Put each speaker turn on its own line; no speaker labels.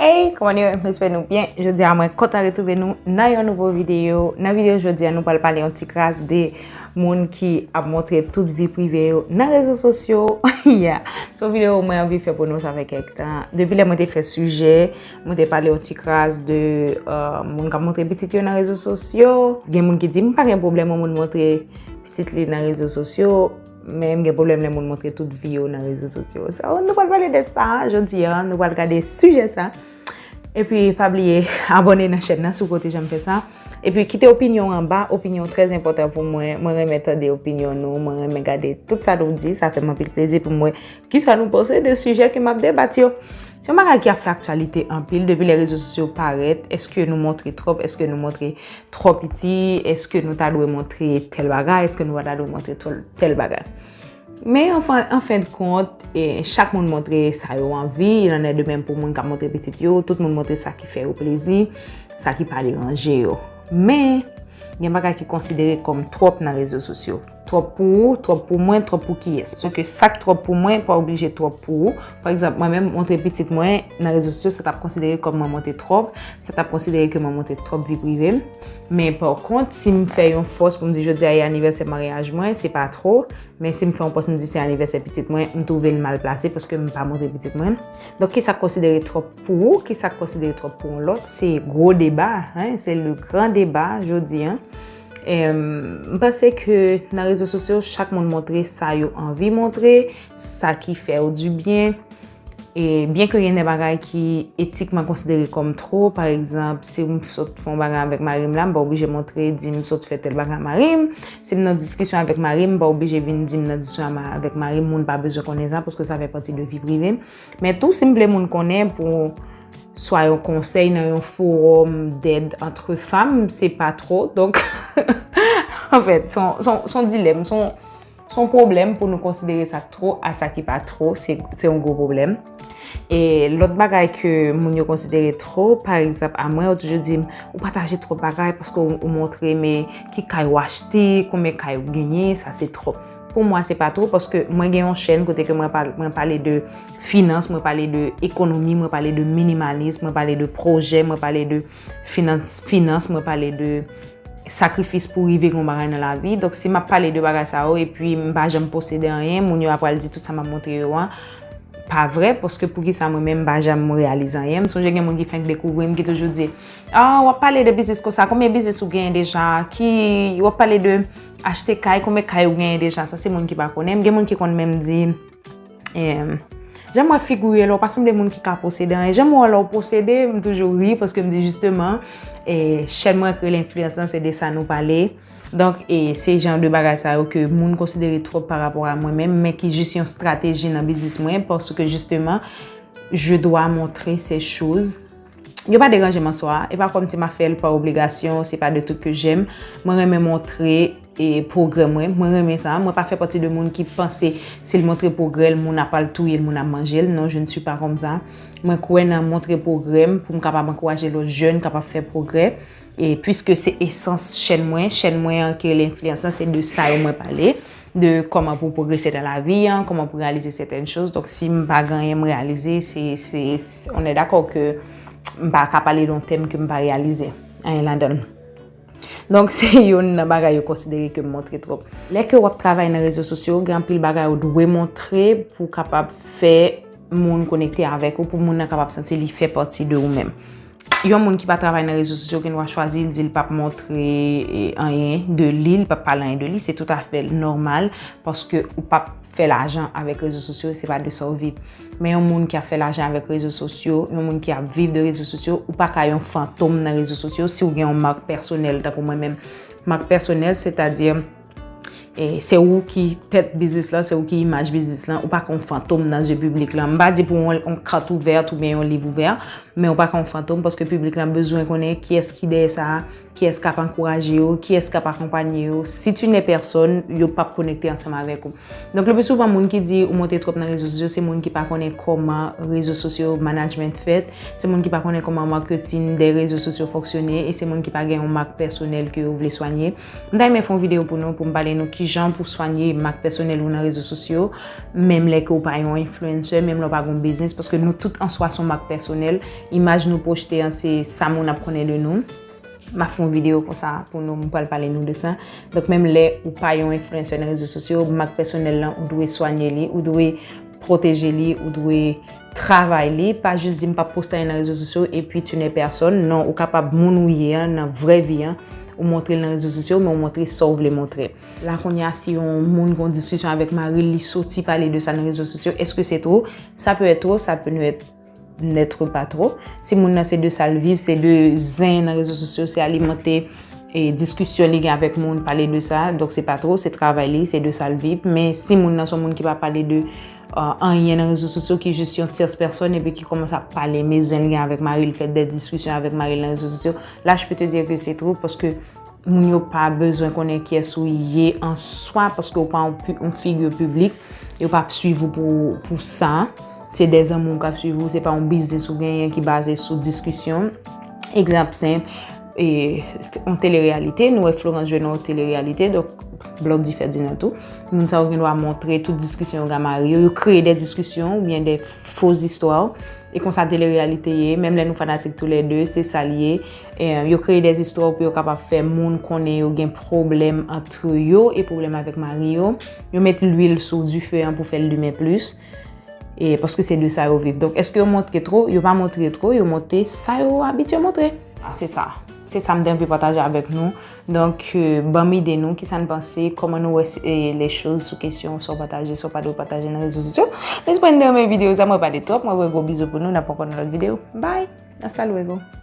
Hey kòman nou ye mwen espè nou byen jodi a mwen kontan retrouve nou nan yon nouvo videyo nan videyo jodi a nou pral pale yon ti kras de moun ki ap montre tout vi prive yo nan rezo sosyo ya se yon videyo mwen anvi fè pou nou sa fè kèk tan depi lè mwen te fè sijè mwen te pale yon ti kras de moun ki ap montre pitit yo nan rezo sosyo gen moun ki di m pa gen pwoblèm yon moun montre pitit li nan rezo sosyo Men m gen pwoblèm lè moun montre tout vi yo nan rezo sosyo. So, nou pral pale de sa jodi an, nou pral gade sijè sa. E pi, pa bliye, abone nan chèn nan si w pa w te janm fè sa. E pi, kite opinyon w anba, opinyon w trèz enpòtan pou mwen. Mwen renmen tande opinyon nou, mwen renmen gade tout sa nou di, sa fè m anpil plezi pou m wè ki sa nou panse de sijè ke m ap debat yo. Se yon bagay ki ap fè aktyalite anpil depi lè rezo sosyo parèt, eske nou montre twòp, eske nou montre twò piti, eske nou ta dwe montre tèl bagay, eske nou pa ta dwe montre tèl bagay. Men an fen de kont, chak moun montre sa yo anvi, il en est de même pou moun k ap montre pitit yo, tout moun montre sa ki fè yo plezi, sa ki pa deranje yo. Men, gen bagay ki konsidere kòm twòp nan rezo sosyo. Twòp pou ou, twòp pou mwen, twòp pou kiyès? Paske sa k twòp pou mwen pa oblije twòp pou ou. Pa egzanp, mwen menm montre pitit mwen nan rezo sosyo, sa t ap konsidere kòm mwen montre twòp, sa t ap konsidere ke mwen montre twòp vi prive m. Men pa kont, si m fè yon fòs pou m di jodi a e anivèsè maryaj mwen, se pa twò. Men si m fè yon pòs m di se anivèsè pitit mwen, m twouve l mal plase paske m pa montre pitit mwen. Donk ki sa k konsidere twòp pou ou, ki sa k konsidere twòp pou yon lòt, se gwo deba, se le gran deba jodi a. M panse ke nan rezo sosyo chak moun montre sa yo anvi montre, sa ki fè yo di byen. E byen ke gen de bagay ki etikman konsidere kom two, pa egzanp, si m sot fon bagay avèk mari m la, m pa oblije montre di m sot fè tel bagay a mari m. Si m nan diskisyon avèk mari m, m pa oblije vin di m nan diskisyon avèk mari m, moun pa bezwen konnen sa, paske sa fè pati de vi prive m. Men tou si m vle moun konnen pou swa yon konsèy nan yon forom dèd antre fam, se pa tro. Donk, an fèt, son dilèm, son pwoblèm pou nou konsidere sa tro a sa ki pa tro, se yon gwo pwoblèm. E lòt bagay ke moun yo konsidere tro, pa egzap a mwen, yo toujou di m, ou pataje tro bagay paske ou montre men ki kay ou achte, konbyen kay ou genyen, sa se tro. Pou mwen se pa two paske mwen gen yon chèn kote ke mwen pale de finans, mwen pale de ekonomi, mwen pale de minimalism, mwen pale de projè, mwen pale de finans, mwen pale de sakrifis pou rive yon bagay nan lavi. Donk si mwen pale de bagay sa yo e pi mwen pa janm posede anyen, moun yo ap pral di tout sa mwen ap montre yo an. Pa vre, paske pou ki sa mwen menm pa janm mwen realize anyen. Mwen sonje gen moun ki fenk dekouvri mwen ki toujou di, a wap pale de biznis konsa, konbyen biznis ou gen deja? Ki wap pale de... Achte kay, konbe kay ou genyen deja, sa se moun ki pa konnen, gen moun ki konn menm di, emm, jan m wè figi w ye la, w pa sanble moun ki ka posede anyen, jan m wè w la w posede, m toujou ri, paske m di jisteman, e, chèn mwen ki rele enfliyans lan, se de sa nou pale, donk, e, se jan de bagay sa yo ke moun konsidere twòp pa rapò a mwen menm, men ki jis yon strateji nan biznis mwen, paske jisteman, je dwa montre se choz. Yo pa deranjem an swa, e pa kòmsi ma fèl pa obligasyon, se pa de tout ke jèm. Mwen renmen montre e progrè mwen, mwen renmen sa, mwen pa fè pati de moun ki panse sil montre progrèl moun ap al touyel moun ap manjel, non je ne suis pas comme ça. Mwen kwè nan montre progrèm poum kapab ankouraje lòt jèn kap ap fè progrè e puiske se esans chèn mwen, chèn mwen an ki rele enfliyans lan se de sa yo mwen pale. de kòman pou pwogrese nan lavi an, kòman pou reyalize sèten chòz, donk si m pa gen anyen m reyalize, se, se, on è dakò ke m pa ka pale de yon tèm ke m pa reyalize anyen ladan l. Donk se youn nan bagay yo konsidere ke m montre twòp. Lè ke w ap travay nan rezo sosyo, gen anpil bagay ou dwe montre pou w kapab fè. moun konekte avèk ou pou moun nan kapab santi li fè pati de ou menm. Yon moun ki pa travay nan rezo sosyo gen dwa chwazi l di l pap montre anyen de li, li pap pale anyen de li, se tout afè nòmal paske ou pap fè lajan avèk rezo sosyo, se pa de sa ou viv. Men yon moun ki ap fè lajan avèk rezo sosyo, yon moun ki ap viv de rezo sosyo, ou pa ka yon fantom nan rezo sosyo si ou gen yon mak pèsonèl tankou mwen menm. Mak pèsonèl, sètadi. E se ou ki tèt biznis lan, se ou ki imaj biznis lan, ou pa kon fantom nan zye publik lan. M pa di pou yon kat ouvè, tou byen yon liv ouvè, men ou pa kon fantom, paske publik lan bezwen konnen ki es ki dèyè sa, ki es kap ankouraje yo, ki es kap akonpanye yo. Si tu ne pèsòn, yo pap konekte ansanm avèk ou. Donk le pi souvan moun ki di ou monte twòp nan rezo sosyo, se moun ki pa konnen koman rezo sosyo management fèt, se moun ki pa konnen koman marketing de rezo sosyo fonksyone, e se moun ki pa gen yon mak pèsonèl ke yo vle swanye. M ta renmen fè yon videyo pou nou pou m pale nou kijan pou swanye mak pèsonèl ou nan rezo sosyo menm lè ke ou pa yon influencer, menm lè ou pa gen yon biznis paske nou tout an swa se yon mak pèsonèl. Imaj nou pwojte an se sa moun ap konnen de nou. M ap fè yon videyo konsa pou nou, m pral pale nou de sa. Donk menm lè ou pa yon influencer nan rezo sosyo, mak pèsonèl lan ou dwe swanye li, ou dwe. Pwoteje li, ou dwe travay li. Pa jis di m pap poste anyen nan rezo sosyo epi tu n'es personne. Non, ou kapab moun ou ye an nan vrè vi an, ou montre l nan rezo sosyo, men ou montre sa w vle montre. La kounye a si yon moun gen yon diskisyon avèk mari l, li soti pale de sa nan rezo sosyo, eske se two? Sa pe èt two, sa pe ne èt. Notre pas trop. Si moun nan se de sal viv, se de zen nan rezo sosyo, se alimante e diskisyon li gen avèk moun, pale de sa, donk se pa trop, se travay li, se de sal viv. Men si moun nan son moun ki pa pale de anyen nan rezo sosyo, ki jis yon tyers person epi ki komanse ap pale me zen li gen avèk mari li, fè de diskisyon avèk mari li nan rezo sosyo, la je peux te dire que c'est trop, paske Moun yo pa bezwen konnen kyès ou ye an swa paske ou pa yon figure publique, yo pap swiv ou pou sa. Se de zanmi kap swiv ou, se pa yon biznis ou genyen ki baze sou diskisyon. Egzanp senp, yon telereyalite, nou wè Florence jwe nan yon telereyalite, donk blòf di fè di nan tou. Moun sa yo gen dwa montre tout diskisyon yo gen ak mari yo, yo kreye de diskisyon ou byen de fo zistwa. E konsa telereyalite ye, menm lè nou fanatik tou lè de, se sa li ye. Yo kreye des istwa pou yo kapab fè moun konnen yo gen pwoblèm antre yo e pwoblèm avèk mari yo. Yo met lwil sou dife an pou fè l limen plis. E paske se de sa yo viv. Donk eske yo montre two? Yo pa montre two. Yo montre sa yo abitye montre. A se sa. Se sa m te anvi pataje avèk nou. Donk banm ide nou. Kisa n panse? Koman nou wè le choz sou kesyon sa w pataje, sa w pa dwe pataje nan rezo sosyo? M espere n te renmen videyo sa. Mwen pale twòp. Mwen voye gwo bizou pou nou. N ap ankò nan lòt videyo. Bye! Hasta luego!